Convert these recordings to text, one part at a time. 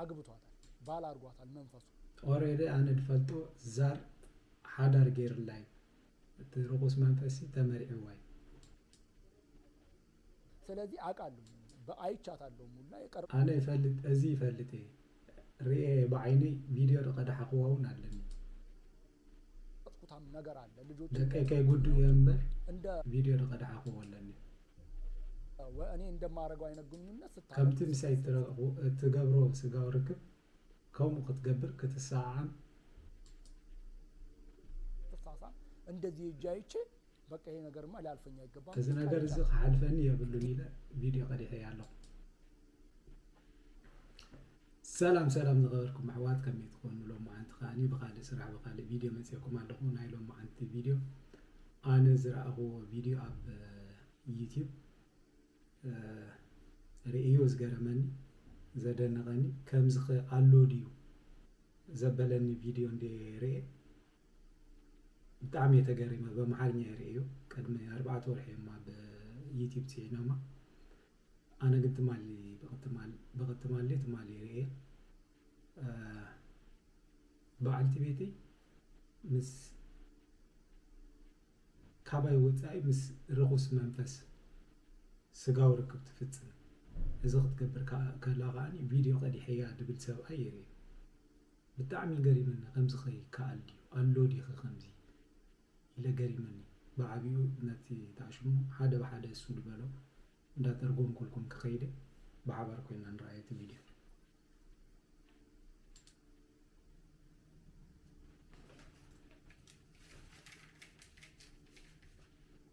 ኣግብቷታል ባል ኣርጓታል መንፈሱ። ኦሬዲ ኣነ ድፈልጦ ዛር ሓዳር ገይርላ እዩ እቲ ሩኩስ መንፈሲ ተመርዒዋ እዩ። ሰለዚ ኣቃሉ ብ ኣይቻታሎ ሙላ የቀርብ። ኣነ ይፈልጥ እዚ ይፈልጥ እየ ሪኤ እየ ብዓይነይ ቪድዮ ድቀዳሓክዋ ውን ኣለኒ። ደቀይ ከይ ጉዱ እየ እምበር ቪድዮ ድቀዳሕክዎ ኣለኒ። ከምቲ ምሳይ እትገብሮ ስጋዊ ርክብ ከምኡ ክትገብር ክትሰዓዓም። እዚ ነገር እዚ ክሓልፈኒ የብሉን ኢለ ቪድዮ ቀዲሐያ ኣለኹ። ሰላም ሰላም ዝኸበርኩም ኣሕዋት ከመይ ትኾኑ ሎማዓንቲ ከዓኒ ብኻልእ ስራሕ ብኻልእ ቪድዮ መፅኤኩም ኣለኹ ናይ ሎማዓንቲ ቪድዮ ኣነ ዝረኣኽዎ ቪድዮ ኣብ ዩትዩብ ርእዮ ዝገረመኒ ዘደነቐኒ ከምዚ ኣሎ ድዩ ዘበለኒ ቪድዮ እንደ ርኤ ብጣዕሚ እየ ተገሪመ በመሓርኛ ይርእዮ ቅድሚ ኣርባዕተ ወርሒ እማ ብዩትዩብ ፅዒኖማ ኣነ ግን ትማሊ ብቅትማል ብቅትማሊ ትማሊ ርእየ ብዓልቲ ቤተይ ምስ ካባይ ወጻኢ ምስ ርኹስ መንፈስ ስጋዊ ርክብ ትፍጽም እዚ ክትገብር ከላ ከኣ ቪድዮ ቀዲሐያ ድብል ሰብኣይ ይርእዩ ብጣዕሚ ገሪምኒ ከምዚ ከ ይከኣል ድዩ ኣሎ ዲኺ ከምዚ ኢለ ገሪሙኒ ብዓቢኡ ነቲ ተኣሽሙ ሓደ ብሓደ እሱ ድበሎ እንዳ ተርጎምኩልኩም ክከይድ እየ ብሓባር ኮይና ንርኣዮ እቲ ቪድዮ።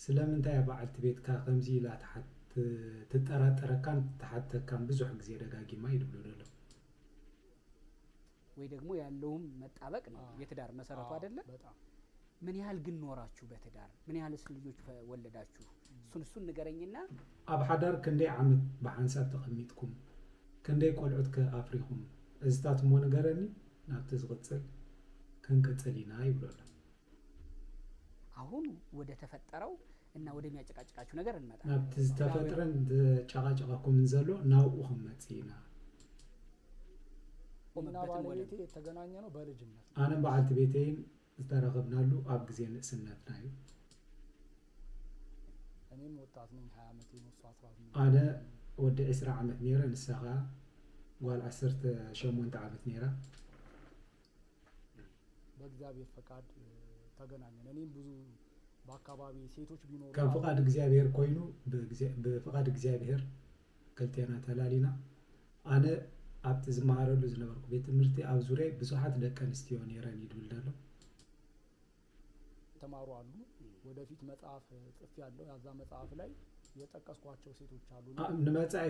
ስለምንታይ እያ በዓልቲ ቤትካ ከምዚ ኢላ ትጠራጠረካን ትሓተካን ብዙሕ ግዜ ደጋጊማ እዩ ድብሎ ደሎ። ወይ ደግሞ ያለውም መጣበቅ ነው የትዳር መሰረቱ አይደለ ምን ያህል ግን ኖራችሁ በትዳር ምን ያህልስ ልጆች ወለዳችሁ እሱን እሱን ንገረኝና። ኣብ ሓዳር ክንደይ ዓመት ብሓንሳብ ተቀሚጥኩም ክንደይ ቆልዑት ከ ኣፍሪኩም እዚታት እሞ ንገረኒ ናብቲ ዝቅጽል ክንቅጽል ኢና ይብሎ ኣሎ። ኣሁን ወደ ተፈጠረው እና ወደሚያጨቃጭቃችሁ ነገር እንመጣለን። ናብቲ ዝተፈጥረን ዘጨቃጨቀኩምን ዘሎ ናብኡ ክንመጽእ ኢና። እኔና ቆምበትን ወደም ባለቤቴ የተገናኘ ነው በልጅነት ነው። ኣነን በዓልቲ ቤተይን ዝተራኸብናሉ ኣብ ግዜ ንእስነትና እዩ። እኔም ወጣት ነኝ ሃያ ዓመቴ ነው እሷ ኣስራ ስምንት ኣነ ዓመት ነው። ወዲ ዕስራ ዓመት ነይረ፣ ንሳ ከኣ ጓል ዓሰርተ ሸሞንተ ዓመት ነይራ። በእግዚኣብሔር ፈቃድ ተገናኘን እኔም ብዙ በአካባቢ ሴቶች ቢኖሩ ከም ፍቃድ እግዚኣብሔር ኮይኑ ብፍቃድ እግዚኣብሔር ክልቴና ተላሊና ኣነ ኣብቲ ዝመሃረሉ ዝነበርኩ ቤት ትምህርቲ ኣብ ዙርያይ ብዙሓት ደቂ ኣንስትዮ ነይረን እዩ ድብል ደሎ። ተማሩ ኣሉ ወደፊት መጽሐፍ ጽፌ ኣለሁ ያዛ መጽሐፍ ላይ የጠቀስኳቸው ሴቶች ኣሉ እና ኣብ ንመጻኢ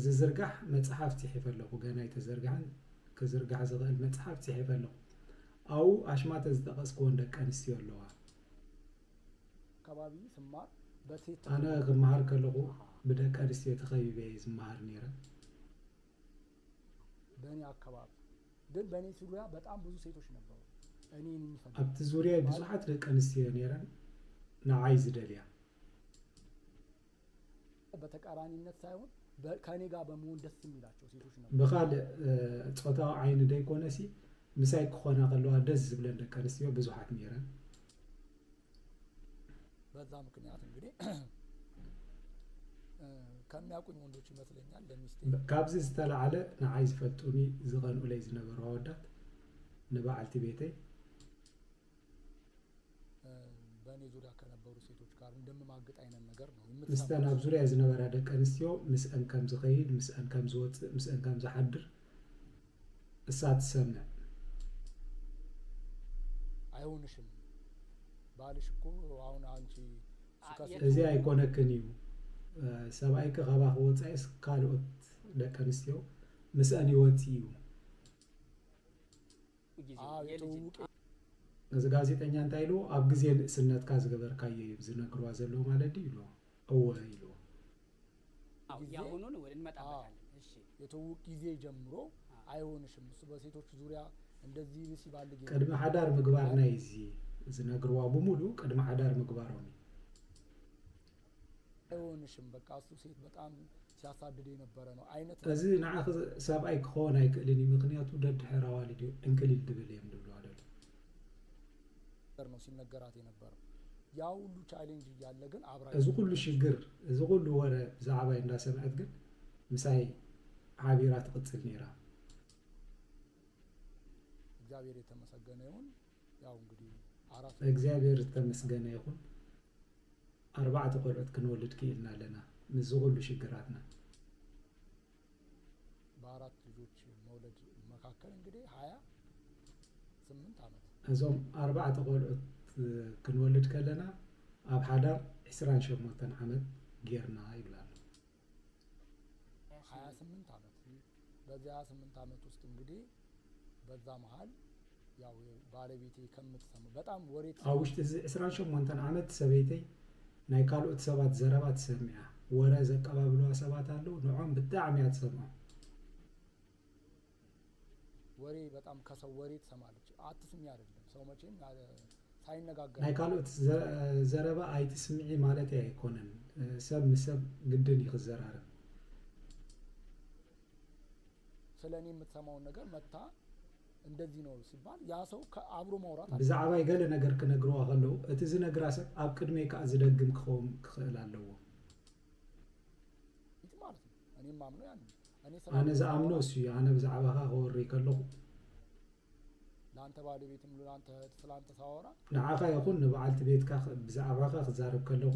ዝዝርጋሕ መጽሐፍ ጺሒፈ ኣለኹ ገና ኣይተዘርግሐን ክዝርጋሕ ዝኽእል መጽሐፍ ጺሒፈ ኣለኹ ኣኡ ኣሽማተ ዝጠቀስክወን ደቂ ኣንስትዮ ኣለዋ ከባቢ ስማር በሴት ኣነ ተኸቢበ ክመሃር ከለኹ ብደቂ ኣንስትዮ ተኸቢበ እየ ዝመሃር ነይረ። በእኔ አካባቢ ግን በእኔ ዙሪያ በጣም ብዙ ሴቶች ነበሩ እኔን የሚፈልጉ ኣብቲ ዙርያይ ማለት ብዙሓት ደቂ ኣንስትዮ ነይረን ንዓይ ዝደልያ። በተቃራኒነት ሳይሆን በ- ከእኔ ጋር በመሆን ደስ የሚላቸው ሴቶች ነበሩ ብኻልእ እ፣ ጾታዊ ዓይኒ ደይኮነሲ ምሳይ ክኾና ከለዋ ደስ ዝብለን ደቂ ኣንስትዮ ብዙሓት ነይረን። በዛ ምክንያት እንግዲህ ከሚያውቁኝ ወንዶች ይመስለኛል ለሚስቴ ካብዚ ዝተላዕለ ንዓይ ዝፈልጡኒ ዝቐንኡለይ ዝነበሩ ኣወዳት ንበዓልቲ ቤተይ በእኔ ዙሪያ ከነበሩ ሴቶች ጋር እንደምማግጥ አይነት ነገር ነው ምስተን ኣብ ዙሪያ ዝነበራ ደቂ ኣንስትዮ ምስአን ከም ዝኸይድ ምስአን ከም ዝወፅእ ምስአን ከም ዝሓድር እሳ ትሰምዕ። ኣይሆንሽም ባልሽ እኮ ኣሁን ኣንቺ ስከፊ። እዚ ኣይኮነክን እዩ ሰብኣይኪ ካባኪ ወፃኢስ ካልኦት ደቂ ኣንስትዮ ምስኣን ይወፅእ እዩ። ኣው የትውውቂ። እዚ ጋዜጠኛ እንታይ ኢልዎ ኣብ ግዜ ንእስነትካ ዝገበርካዮ እዩ ዝነግርዋ ዘለዉ ማለት ድዩ ኢልዎ እወ ኢልዎ። የተውውቅ ጊዜ ጀምሮ ኣይሆንሽም እሱ በሴቶች ዙሪያ እንደዚህ ሲባልግ ቅድሚ ሓዳር ምግባር ናይ እዚ ዝነግርዋ ብሙሉ ቅድሚ ሓዳር ምግባሮም እዩ። ኣይሆንሽም በቃ እሱ ሴት በጣም ሲያሳድድ የነበረ ነው አይነት እዚ ንዓኺ ሰብኣይ ክኸውን ኣይክእልን እዩ ምክንያቱ ደድሕር ኣዋልድ እዩ ዕንክሊል ድብል እዮም ድብልዋ ደሎ ነው ሲነገራት የነበረው ያ ሁሉ ቻሌንጅ እያለ ግን አብራ እዚ ኩሉ ሽግር እዚ ኩሉ ወረ ብዛዕባይ እንዳሰምዐት ግን ምሳይ ሓቢራ ትቕፅል ነይራ። እግዚአብሔር የተመሰገነ ይሁን ያው እንግዲህ አራት እግዚኣብሔር ዝተመስገነ ይኹን ኣርባዕተ ቆልዑት ክንወልድ ክኢልና ኣለና ምስዚ ኩሉ ሽግራትና በአራት ልጆች መውለድ መካከል እንግዲህ ሀያ ስምንት ዓመት እዞም ኣርባዕተ ቆልዑት ክንወልድ ከለና ኣብ ሓዳር ዕስራን ሸሞንተን ዓመት ጌርና ይብል ኣሎ። ሀያ ስምንት ዓመት በዚህ ሀያ ስምንት ዓመት ውስጥ እንግዲህ በዛ መሃል ያው ባለቤቴ ከምትሰማ በጣም ወሬ ኣብ ውሽጢ እዚ ዕስራን ሸሞንተን ዓመት ሰበይተይ ናይ ካልኦት ሰባት ዘረባ ትሰምዕ እያ። ወረ ዘቀባብሉዋ ሰባት ኣለዉ፣ ንዖም ብጣዕሚ እያ ትሰምዖም። ወሬ በጣም ከሰው ወሬ ትሰማለች። ኣትስሚ አይደለም ሰው መቼም ያለ ሳይነጋገር ናይ ካልኦት ዘ- ዘረባ ኣይትስምዒ ማለተይ ኣይኮነን። ሰብ ንሰብ ግድን እዩ ክዘራረብ። ስለ እኔ የምትሰማውን ነገር መታ እንደዚህ ነው ሲባል ያ ሰው ከአብሮ ማውራት አለ ብዛዕባይ ገለ ነገር ክነግርዋ ከለዉ እቲ ዝነግራ ሰብ ኣብ ቅድመይ ከኣ ዝደግም ክኸውም ክኽእል ኣለዎ። ኢት ማለት ነው። እኔ የማምነው ያንን ነው። እኔ ስለ አነ አንተ ዝኣምኖ ሳወራ እሱ እዩ ኣነ ብዛዕባኻ ከወሪ ከለኹ ለአንተ ባለቤትም ለአንተ እህት ስለ አንተ ሳወራ ንዓኻ ይኹን ንበዓልቲ ቤትካ ክ- ብዛዕባኻ ክዛረብ ከለኹ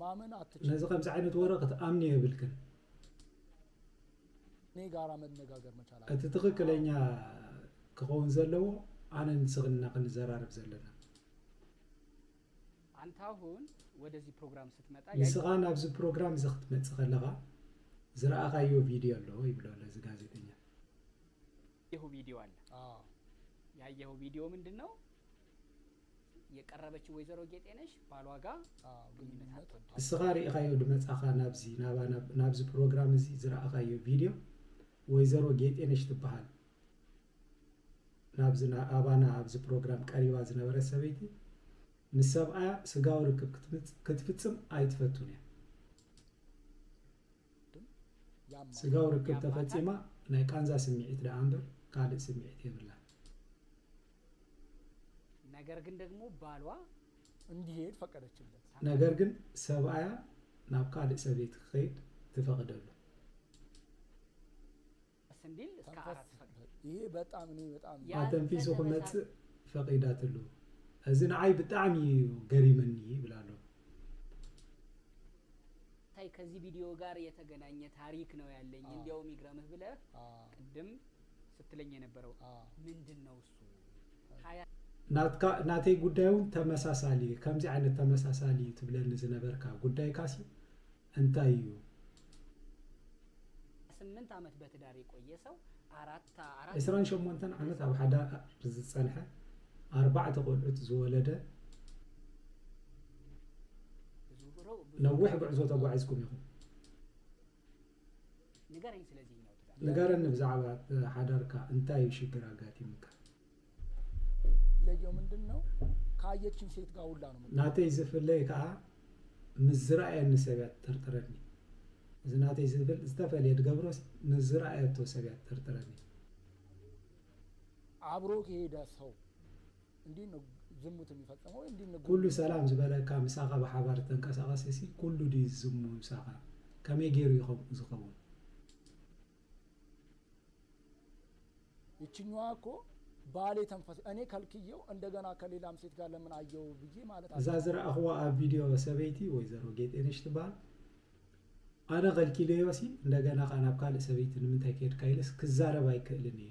ማመን ኣትችል ነዚ ከምዚ ዓይነት ወረ ክትኣምኒ የብልክን እኔ ጋራ መነጋገር መቻል እቲ ኣለብን ትኽክለኛ ክኸውን ዘለዎ ኣነ ንስኽን እና ክንዘራረብ ዘለና አንተ አሁን ወደዚህ ፕሮግራም ስትመጣ ያየ ንስኻ ናብዚ ፕሮግራም እዚ ክትመጽእ ከለኻ ዝረኣኻዮ ቪድዮ ኣሎ ይብሎ ኣሎ እዚ ጋዜጠኛ የሁ ቪዲዮ አለ አዎ ያየኸው ቪዲዮ ምንድን ነው የቀረበች ወይዘሮ ጌጤነሽ ባሏጋ ግንኙነት ኣትወድን። ንስኻ ርኢኻዮ ድመጻኻ ናብዚ ናባና ናብዚ ፕሮግራም እዚ ዝረኣኻዮ ቪድዮ ወይዘሮ ጌጤነሽ ትበሃል ናብዚ ኣባና ኣብዚ ፕሮግራም ቀሪባ ዝነበረት ሰበይቲ ምስ ሰብኣያ ስጋዊ ርክብ ክትፍጽም ኣይትፈቱን እያ ስጋዊ ርክብ ተፈጺማ ናይ ቃንዛ ስምዒት ደኣ እምበር ካልእ ስምዒት የብላን። ነገር ግን ደግሞ ባሏ እንዲሄድ ፈቀደችለት። ነገር ግን ሰብኣያ ናብ ካልእ ሰበይቲ ክኸይድ ትፈቕደሉ። እንዲል እስከ አራት ፈቅድ ይሄ በጣም እኔ በጣም ኣተንፊሱ ክመጽእ ፈቒዳትሉ። እዚ ንዓይ ብጣዕሚ እዩ ገሪመኒ ይብል ኣሎ። ታይ ከዚህ ቪዲዮ ጋር የተገናኘ ታሪክ ነው ያለኝ እንዲያውም ይግረምህ ብለህ ቅድም ስትለኝ የነበረው ምንድን ነው እሱ ሀያ ናትካ ናተይ ጉዳይ እውን ተመሳሳሊ እዩ ከምዚ ዓይነት ተመሳሳሊ እዩ ትብለኒ ዝነበርካ ጉዳይካሲ እንታይ እዩ ስምንት ዓመት በትዳር የቆየ ሰው አራት አራት ዕስራን ሸሞንተን ዓመት ኣብ ሓዳር ዝጸንሐ ኣርባዕተ ቆልዑት ዝወለደ ብዙ ሮ ብዙ ነዊሕ ጉዕዞ ተጓዒዝኩም ኢኹም ንገረኝ ስለ እዚ ነው ትዳር ንገረኒ ብዛዕባ ሓዳርካ እንታይ እዩ ሽግር ኣጋጢሙካ? ለየው ምንድን ነው ካየችኝ ሴት ጋር ሁላ ነው የምትውለው። ናተይ ዝፍለይ ከኣ ምስ ዝረኣየኒ ሰብ እያ ትጥርጥረኒ። እዚ ናተይ ዝብል ዝተፈልየ ድገብሮስ ምስ ዝረኣየቶ ሰብ እያ ትጥርጥረኒ። ኣብሮ ዝሄደ ሰው። ኩሉ ሰላም ዝበለካ ምሳኻ ብሓባር ዝተንቀሳቐሰ ሲ ኩሉ ድዩ ዝስሙ ምሳኻ ከመይ ጌሩ ዩ ከምኡ ዝኸውን። እዛ ዝረኣኽዋ ኣብ ቪድዮ ሰበይቲ ወይዘሮ ጌጤነሽ ትበሃል ኣነ ከልኪለዮ ሲ እንደገና ከኣ ናብ ካልእ ሰበይቲ ንምንታይ ከድካ ኢለስ ክዛረብ ኣይክእልን እየ።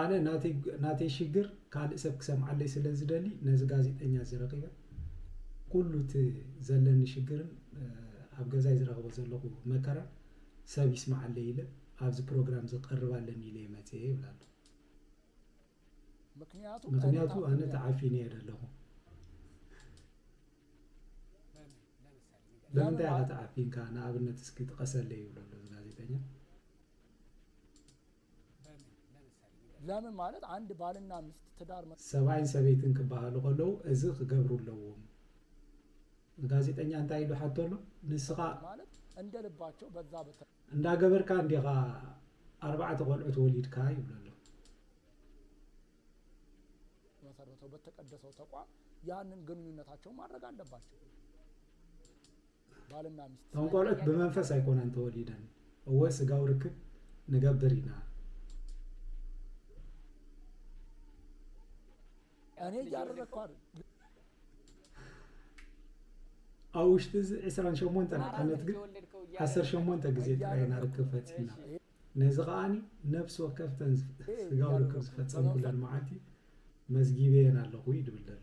ኣነ ናተይ ናተይ ሽግር ካልእ ሰብ ክሰምዓለይ ስለ ዝደሊ ነዚ ጋዜጠኛ እዚ ረኺበ ኩሉ እቲ ዘለኒ ሽግርን ኣብ ገዛይ ዝረኽቦ ዘለኹ መከራን ሰብ ይስምዓለይ ኢለ ኣብዚ ፕሮግራም እዚ ክቐርብ ኣለኒ ኢለየ መጺኤ ይብላ ኣሎ። ምኽንያቱ ኣነ ተዓፊነየ ደለኹ። ብምንታይ ኢኻ ተዓፊንካ ንኣብነት እስኪ ጥቀሰለይ ይብሎ ኣሎ እዚ ጋዜጠኛ። ለምን ማለት ኣንድ ባልና ምስት ትዳር መ። ሰብኣይን ሰበይትን ክበሃሉ ከለዉ እዚ ክገብሩ ኣለዎም። ንጋዜጠኛ እንታይ ኢሉ ሓቶ ኣሎ ንስኻ። ማለት እንደ ልባቸው በዛ በተ። እንዳገበርካ እንዲኻ ኣርባዕተ ቆልዑት ወሊድካ ይብሎ ኣሎ። መሰረተው በተቀደሰው ተቋም ያንን ግንኙነታቸውን ማድረግ ኣለባቸው። እቶም ቆልዑት ብመንፈስ ኣይኮናን ተወሊደን እወ ስጋዊ ርክብ ንገብር ኢና። ኣብ ውሽጢ እዚ ዕስራን ሸሞንተን ዓመት ግን ዓሰርተ ሸሞንተ ግዜ ጥራይ ኢና ርክብ ፈጺምና። ነዚ ከኣ ነፍሲ ወከፍተን ስጋዊ ርክብ ዝፈጸምኩለን መዓልቲ መዝጊበየን ኣለኹ እዩ ድብል ዘሎ።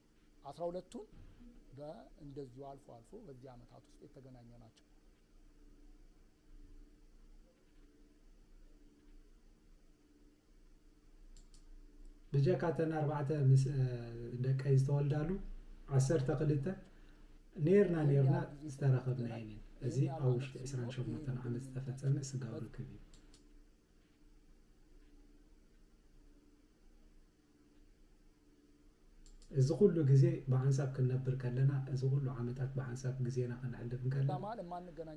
አስራ ሁለቱን በእንደዚሁ አልፎ አልፎ በዚህ ዓመታት ውስጥ የተገናኘ ናቸው። ብጀካ እተን ኣርባዕተ ምስ ደቀይ ዝተወልዳሉ ዓሰርተ ክልተ ነርና ነርና ዝተራኸብና እየን እየን እዚ ኣብ ውሽጢ 28 ዓመት ዝተፈፀመ ስጋዊ ርክብ እዩ እዚ ኩሉ ግዜ ብሓንሳብ ክንነብር ከለና፣ እዚ ኩሉ ዓመታት ብሓንሳብ ግዜና ከነሕልፍ እንከለና፣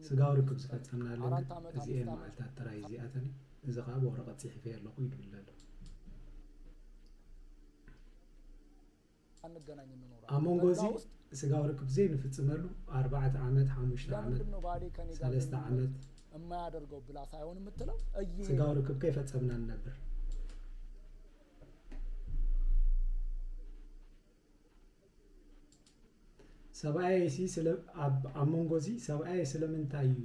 ስጋዊ ርክብ ዝፈጸምናለን ግን እዚኤን መዓልታት ጥራይ እዚኣተን እዩ። እዚ ከኣ ብወረቐት ጽሒፈዮ ኣለኹ ይብል ኣሎ። ኣብ መንጎ እዚ ስጋዊ ርክብ ዘይንፍጽመሉ ኣርባዕተ ዓመት፣ ሓሙሽተ ዓመት፣ ሰለስተ ዓመት ስጋዊ ርክብ ከይፈጸምና ንነብር። ሰብኣየይሲ ስለ ኣብ ኣብ መንጎ እዚ ሰብኣየይ ስለምንታይ እዩ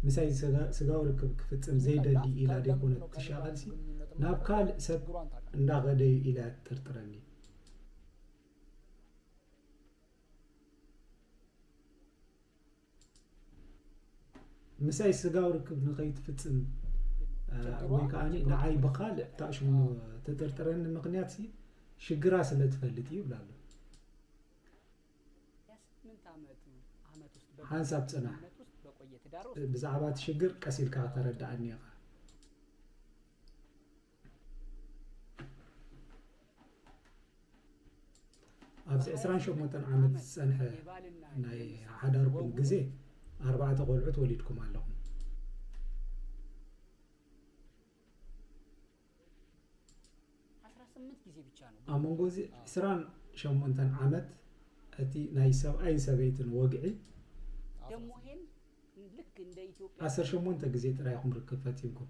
ምሳይ ስጋ- ስጋዊ ርክብ ክፍጽም ዘይደሊ ኢላ ደይኮነት ትሻቐልሲ ናብ ካልእ ሰብ እንዳኸደ እዩ ኢላ ትጥርጥረኒ። ምሳይ ስጋዊ ርክብ ንኸይትፍፅም ወይ ከዓ ንዓይ ብካልእ ታእሽሙ ተጠርጥረኒ ምክንያት ሽግራ ስለ ትፈልጥ እዩ ይብላ ኣሎ ሓንሳብ ፅናሕ ብዛዕባ እቲ ሽግር ቀስ ኢልካ ከተረድኣኒ ኢኻ ኣብዚ ዕስራን ሸሞንተን ዓመት ዝጸንሐ ናይ ሓዳርኩም ግዜ ኣርባዕተ ቆልዑት ወሊድኩም ኣለኹም ኣብ መንጎ እዚ ዕስራን ሸሞንተን ዓመት እቲ ናይ ሰብኣይን ሰበይትን ወግዒ ዓሰርተ ሸሞንተ ግዜ ጥራይ ኢኹም ርክብ ፈጺምኩም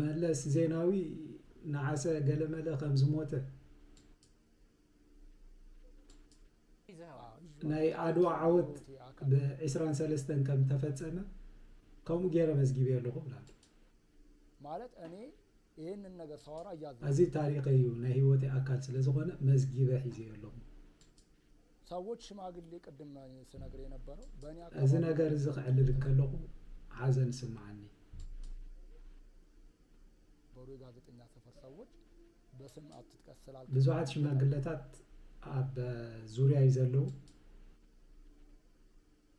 መለስ ዜናዊ ነዓሰ ገለመለ ከም ዝሞተ ናይ ዓድዋ ዓወት ብዕስራን ሰለስተን ከም ተፈጸመ ከምኡ ገይረ መዝጊበ ኣለኹ ብላ ማለት እኔ ይህንን ነገር ሳወራ እያ እዚ ታሪኸ እዩ ናይ ህይወት ኣካል ስለ ዝኾነ መዝጊበ ሒዘ ኣለኹ እዚ ነገር እዚ ክዕልል እንከለኹ ሓዘን ይስምዓኒ። ብዙሓት ሽማግለታት ኣብ ዙርያይ ዘለዉ።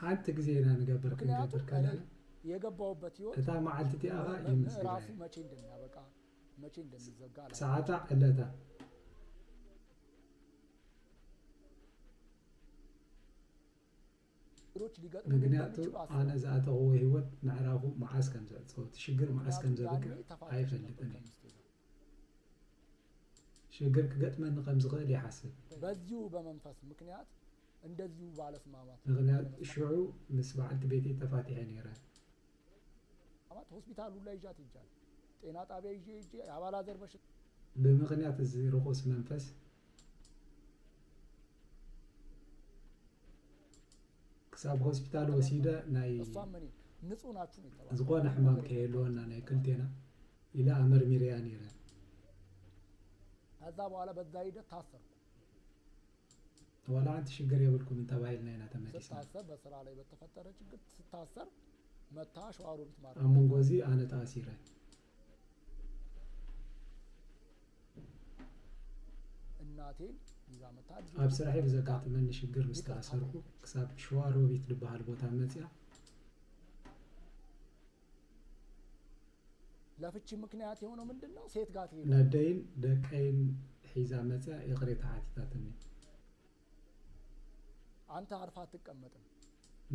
ሓንቲ ግዜ ኢና ንገብር ክንገብር ከለና የገባውበት ህይወት እታ መዓልቲ እቲኣ ኸኣ ምዕራፉ ይምስግናያ መቼ እንደሚያበቃ መቼ እንደሚዘጋ አላውቅም። ሰዓታ ዕለታ ምክንያቱ ኣነ ዝኣተኽዎ ህይወት ምዕራፉ መዓስ ከም ዝዕጸው፣ እቲ ሽግር መዓስ ከም ዘብቅዕ ኣይፈልጥን እየ። ሽግር ክገጥመኒ ከም ዝኽእል ይሓስብ ምክንያቱ ሽዑ ምስ በዓልቲ ቤተይ ተፋቲሐ ነይረ። ብምክንያት እዚ ርኹስ መንፈስ ክሳብ ሆስፒታል ወሲደ ናይ ዝኾነ ሕማም ከየህልወና ናይ ክልቴና ኢለ ኣመርሚረያ ነይረ። ከዛ በኋላ በዛ ሂደት ታሰርኩ። ዋላ ሓንቲ ሽግር የብልኩምን ተባሂልና ኢና ተመሊስና። ስታሰር በስራ ላይ በተፈጠረ ችግር ስታሰር መታ ሸዋሮቢት ማለት ኣብ መንጎ እዚ ኣነ ተኣሲረ እናቴን ይዛ መታ ድሮ ኣብ ስራሐይ ብዘጋጠመኒ ሽግር ምስ ይቅርታ ተኣሰርኩ ክሳብ ሸዋ ሮቢት ዝበሃል ቦታ መፅኣ ለፍቺ ምክንያት የሆነው ምንድን ነው? ሴት ጋር ትሄዳለህ። ነደይን ደቀይን ሒዛ መፅኣ ይቕሬታ ሓቲታትኒ። ኣንታ ዓርፋ ኣትቀመጥን።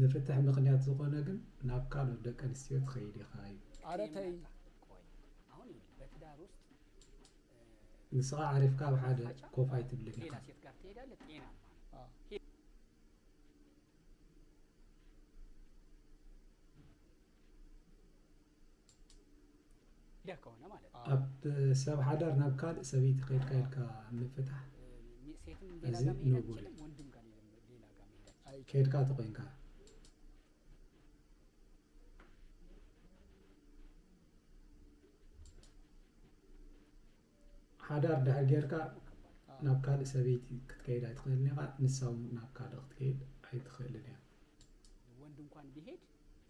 ንፍትሕ ምኽንያት ዝኾነ ግን ናብ ካልኦት ደቂ ኣንስትዮ ትኸይድ ኢኻ እዩ። ኣረ ተይ። ንስኻ ዓሪፍካ ኣብ ሓደ ኮፍ ኣይትብልን ኢኻ። ኣብ ሰብ ሓዳር ናብ ካልእ ሰበይቲ ከይድካ ኢልካ ምፍታሕ እዚ ንቡር እዩ ከይድካ ተኾይንካ ሓዳር ድሕር ጌርካ ናብ ካልእ ሰበይቲ ክትከይድ ኣይትኽእልን ኢኻ ንሳ እውን ናብ ካልእ ክትከይድ ኣይትኽእልን እያ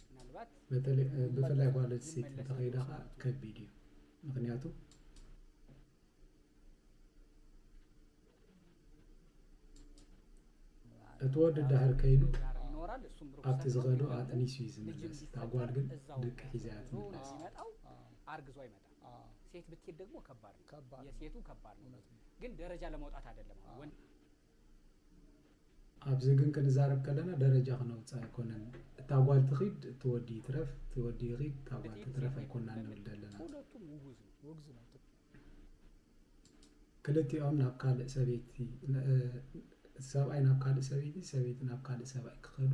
ምናልባት ብፍላይ ጓል ኣንስተይቲ እንተኸይዳ ከኣ ከቢድ እዩ ምክንያቱ እቲ ወዲ ዳህር ከይኑ ኣብቲ ዝኸዶ ኣጥኒሱ እዩ ዝምለስ እታ ጓል ግን ደቂ ሒዛ እያ ትምለስ ሲመጣው አርግዞ አይመጣም ሴት ብትሄድ ደግሞ ከባድ ነው ከባድ ነው። የሴቱ ከባድ ነው ግን ደረጃ ለመውጣት አይደለም አሁን ወንድ ኣብዚ ግን ክንዛረብ ከለና ደረጃ ክነውጽእ ኣይኮነን እታ ጓል ትኺድ እቲ ወዲ ይትረፍ እቲ ወዲ ይኺድ እታ ጓል ትትረፍ ኣይኮናን ንብል ዘለና ክልቲኦም ናብ ካልእ ሰበይቲ ሰብኣይ ናብ ካልእ ሰበይቲ ሰበይቲ ናብ ካልእ ሰብኣይ ክኸዱ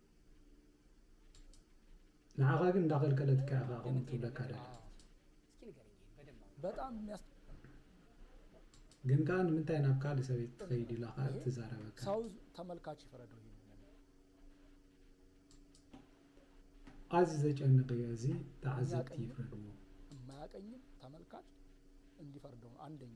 ንዓኻ ግን እንዳኸልከለትካ ኢኻ ከምኡ ትብለካ ደላ ግን ከዓ ንምንታይ ናብ ካልእ ሰበይቲ ትኸይድ ኢላ ከዓ ትዛረበካ ኣዚ ዘጨንቕ እዩ እዚ ተዓዘብቲ ይፍረድዎ የማያቀኝም ተመልካች እንዲፈርደው አንደኛ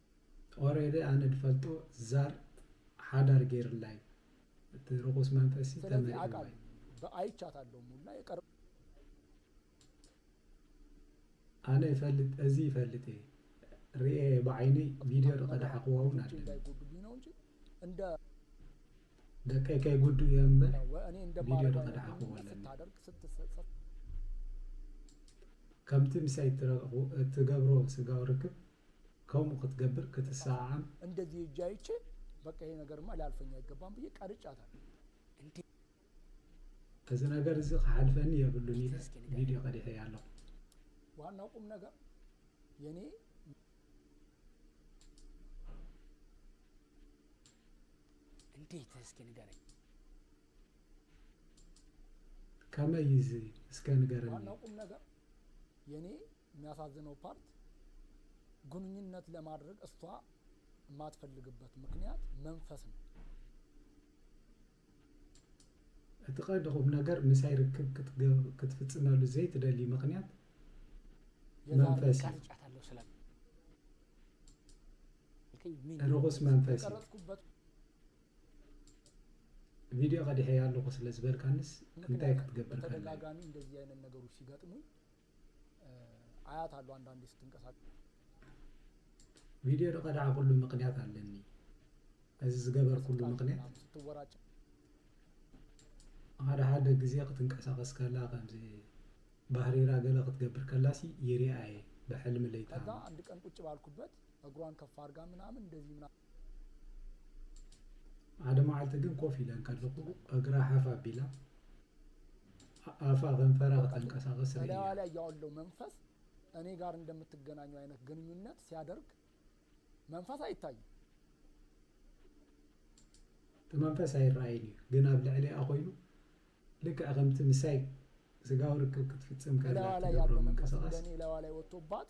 ኦሬዲ ኣነ ድፈልጦ ዛር ሓዳር ገይርላ እዩ እቲ ርኩስ መንፈሲ ሰለዚ ተመሪዕዋ እዩ። ኣቃል ብ ኣይቻታሎ ሙላ የቀር። ኣነ ይፈልጥ እዚ ይፈልጥ እየ ሪኤ እየ ብዓይነይ ቪድዮ ዶ ቀዳሓ ክዋ እውን ልጆቼ ኣለኒ። እንዳይጎዱብኝ ነው እንጂ እንደ ደቀይ ከይጉዱ እየ እምበር እወ እኔ ቪድዮ እንደማረገው ዶ አይነት ቀዳሓ ክዋ ግንኙነት ኣለኒ። ስታደርግ ስትሰ ከምቲ ምሳይ እትረግቁ እትገብሮ ስጋዊ ርክብ ከምኡ ክትገብር ክትሰዓዓም። እንደዚህ እጅ አይቼ በቃ ይሄ ነገርማ ሊያልፈኝ አይገባም ብዬ ቀርጫታለሁ። እዚ ነገር እዚ ክሓልፈኒ የብሉን ኢለ ቪድዮ ቀዲሐያ ኣለኹ። ዋናው ቁም ነገር የኔ እንዴት እስኪ ንገረኝ። ከመይ እዚ እስከ ንገረኝ። ዋናው ቁም ነገር የኔ የሚያሳዝነው ፓርት ግንኙነት ለማድረግ እስቷ የማትፈልግበት ምክንያት መንፈስ ነው። እቲ ቀንዲ ቁምነገር ምሳይ ርክብ ክትፍፅመሉ ዘይትደሊ ምክንያት መንፈስ እዩ። ርኹስ መንፈስ ቪድዮ ቀዲሐ ኣለኹ ስለ ዝበልካንስ እንታይ ክትገብር ተደጋጋሚ እንደዚህ አይነት ነገሮች ሲገጥሙኝ ኣያት ኣሎ ኣንዳንዴ ስትንቀሳቀስ። ቪድዮ ድቀዳዕኩሉ ምክንያት ኣለኒ እዚ ዝገበርኩሉ ምክንያት ስትቃዥ ስትወራጭ ሓደ ሓደ ግዜ ክትንቀሳቀስ ከላ ከምዚ ባህሪራ ገለ ክትገብር ከላሲ ይሪኣ እየ ብሕልሚ ለይታ ከዛ እሞ። ኣንድ ቀን ቁጭ ባልኩበት እግሯን ከፍ ኣርጋ ምናምን እንደዚ ምናምን። ሓደ መዓልቲ ግን ኮፍ ኢለ እንከለኹ እግራ ሓፍ ኣቢላ ኣፋ ከንፈራ ከተንቀሳቐስ ርእያ። እላይዋ ላይ ያለው መንፈስ እኔ ጋር እንደምትገናኙ አይነት ግንኙነት ሲያደርግ መንፈስ አይታይም። እቲ መንፈስ ኣይረኣይን እዩ ግን ኣብ ልዕሊኣ ኮይኑ ልክዕ ከምቲ ምሳይ ስጋዊ ርክብ ክትፍጽም ከላ እላይዋ ላይ ትገብሮ ያለው መንፈስ ምንቅስቓስ እንደኔ እላይዋ ላይ ወጥቶባት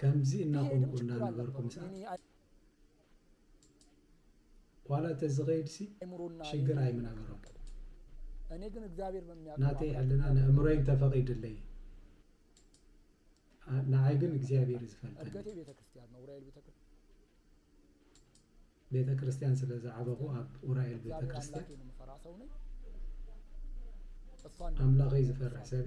ከምዚ እናኾንኩ እናነበርኩ ምስኣ ዋላ ተዝኸይድሲ ሽግር ኣይምነበሮን ናተይ ሕልና ንእምሮይ እንተፈቒድለይ ንዓይ ግን እግዚኣብሔር እዩ ዝፈልጠኒ ቤተ ክርስቲያን ስለ ዝዓበኹ ኣብ ኡራኤል ቤተ ክርስቲያን ኣምላኸይ ዝፈርሕ ሰብ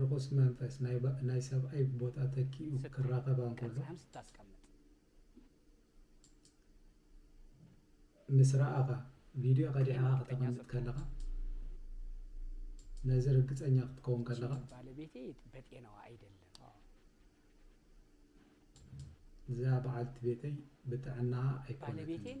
ርኹስ መንፈስ ናይ ሰብኣይ ቦታ ተኪኡ ክራኸባ እንከሎ ምስ ረኣኻ ቪድዮ ቀዲሕኻ ከተቐምጥ ከለኻ ነዚ ርግፀኛ ክትከውን ከለኻ ባለቤቴ በጤናዋ ኣይደለም እዛ በዓልቲ ቤተይ ብጥዕናኣ ኣይኮነትን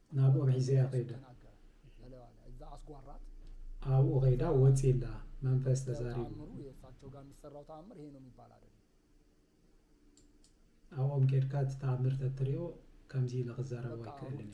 ናብኡ ሒዘያ ከይደ። ኣብኡ ከይዳ ወጽኢ እላ መንፈስ ተዛሪቡ። ኣብኦም ኬድካ እቲ ተኣምር ተትሪኦ ከምዚ ኢለ ክዛረቦ ኣይክእልን እየ።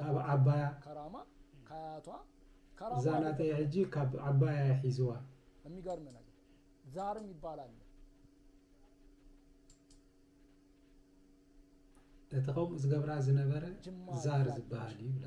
ካብ ዓባያ እዛ ናተይ ሕጂ ካብ ዓባያ እየ ሒዝዋ። እቲ ከምኡ ዝገብራ ዝነበረ ዛር ዝበሃል እዩ ይብላ።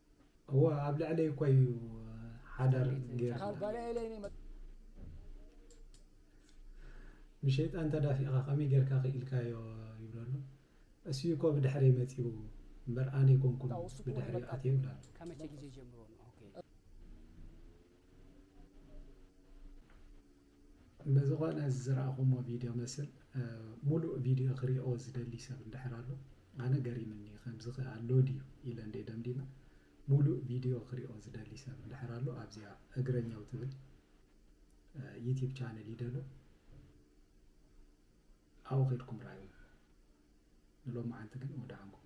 እወ ኣብ ልዕለይ እኮ እዩ ሓዳር ገይርና ብሸይጣን ተዳፊእኻ ከመይ ጌርካ ክኢልካዮ ይብሎ ኣሎ እሱዩ እኮ ብድሕረይ መፂኡ እምበር ኣነ ኣይኮንኩን ብድሕሪኡ ኣትየ ይብላ ኣሎ ብዝኾነ እዚ ዝረኣኹሞ ቪድዮ መስል ሙሉእ ቪድዮ ክሪኦ ዝደሊ ሰብ እንድሕር ኣሎ ኣነ ገሪምኒ ከምዚ ከኣ ኣሎ ድዩ ኢለ እንዴ ደምዲመ ሙሉእ ቪድዮ ክሪኦ ዝደሊ ሰብ እንድሕር ኣሎ ኣብዚኣ እግረኛው ትብል ዩቲብ ቻነል ይደሎ ኣብኡ ከድኩም ራዩ ንሎሚ ዓንቲ ግን ወደኣንኩም